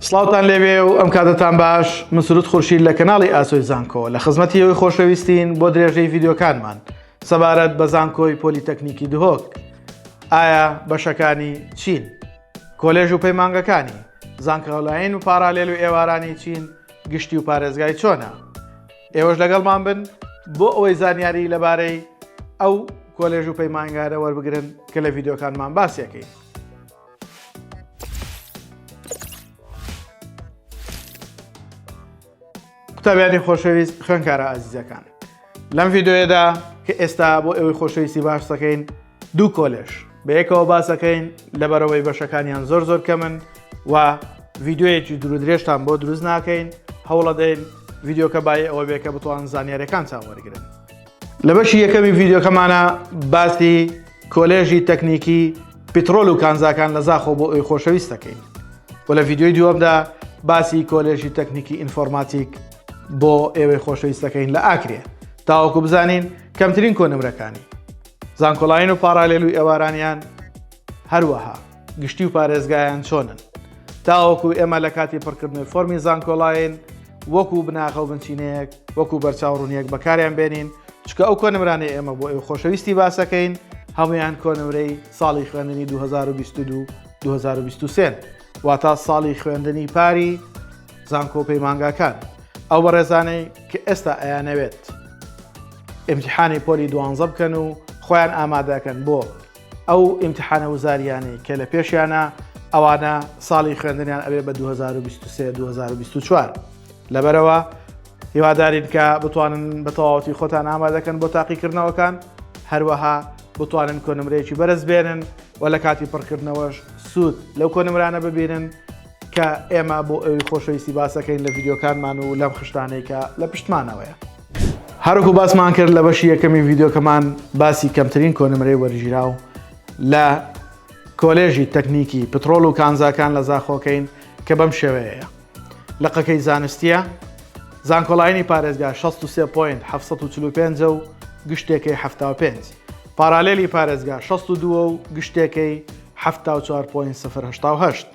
سڵاوتان لێبێ و ئەم کاتەتان باش من سرود خورشید لە کەناڵی ئاسۆی زانکۆ لە خزمەتی ئەوی خۆشەویستین بۆ درێژەی ڤیددیوکانمان سەبارەت بە زانکۆی پۆلیتەکنیکی دهۆک ئایا بەشەکانی چین کۆلێژ و پەیمانگەکانی زانکەڵاین و پارالێل و ئێوارانی چین گشتی و پارێزگای چۆنە ئێوەش لەگەڵمان بن بۆ ئەوەی زانیاری لەبارەی ئەو کۆلێژ و پەیمانگارە وەربگرن کە لە ڤیددیوکانمان باسیەکەین قوتابیانی خۆشەویست خوێنکارە ئازیزەکان لەم ڤیددیوەدا کە ئێستا بۆ ئێوەی خۆشەویستی باش دەکەین دوو کۆلێش بە یەکەوە باسەکەین لەبەرەوەی بەشەکانیان زۆر زۆر کەمن و ڤیددیوەیەکی درودرێژتان بۆ دروست ناکەین هەوڵەدەین ڤیددیوکە بای ئەوە بێکە بتوان زانیارەکان چاوەرگن لە بەشی یەکەمی ڤیددیوکەمانە باسی کۆلێژی تەکنیکی پیترۆل و کانزاکان لە زاخۆ بۆ ئەوی خۆشەویستەکەی و لە ڤیددیوی دووەمدا باسی کۆلێژی تەکنیکی ئینفۆرماتیک بۆ ئێوەی خۆشەویستەکەین لە ئاکرێ تاوەکو بزانین کەمترین کۆنمرەکانی زانکۆلاین و پاراالێل و ئێوارانیان هەروەها گشتی و پارێزگایان چۆنن تاوەکو ئێمە لە کاتی پڕکردنەوەی فۆمی زانکۆڵین وەکو بناغە و بنچینەیەک وەکو بەرچاوڕونیەک بەکاریان بێنین چکە ئەو کۆنمرانەی ئێمە بۆ ئێو خۆشەویستی باسەکەین هەمویان کۆنمرەی ساڵی خوێندنی 2022 2023 واتا ساڵی خوێندنی پاری زانکۆ پەیمانگاکان ئەو بە ڕێزانەی کە ئێستا ئەیانەوێت ئەمتحانی پۆلی دوانزە بکەن و خۆیان ئامادەکەن بۆ ئەو ئیمتحانە وزاریانەی کە لە پێشیانە ئەوانە ساڵی خوێندنیان ئەوێ بە 2023 2024 لەبەرەوە هیوادارین کە بتوانن بە تەواوەتی خۆتان ئامادەکەن بۆ تاقیکردنەوەکان هەروەها بتوانن کۆنمرەیەکی بەرز بێنن و لە کاتی پڕکردنەوەش سوود لەو کۆنمرانە ببینن کە ئێمە بۆ ئەوی خۆشەویستی باسەکەین لە ڤیددیوکانمان و لەم خشتانێکە لە پشتمانەوەیە. هەرکو باسمان کرد لە بەشی یەکەمی ڤیددیوکەمان باسی کەمترین کۆنمرەی وەرگیراو لە کۆلێژی تەکنیکی پترۆل و کانزاکان لە زاخۆکەین کە بەم شێوەیە لقەکەی زانستیە زانکۆلاینی پارێزگا 63 پوین 1945 و گشتێکی 75 پارالێلی پارێزگا 62 و گشتێکی 1940.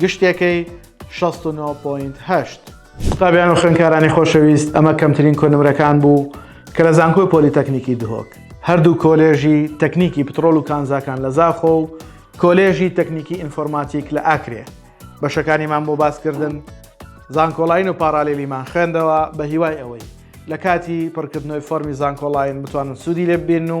گشتێکەی 69.8. قوتابیان و خوێنکارانی خۆشەویست ئەمە کەمترین کۆنمرەکان بوو کە لە زانکۆی پۆلیتەکنیکی دهۆک هەردوو کۆلێژی تەکنیکی پترۆل و کانزاکان لە زاخۆ و کۆلێژی تەکنیکی ئینفۆرماتیک لە ئاکرێ بەشەکانیمان بۆ باسکردن زانکۆڵین و پارالیلیمان خوێندەوە بە هیوای ئەوەی لە کاتی پڕکردنەوەی فۆرمی زانکۆڵین بتوانن سوودی لێ ببین و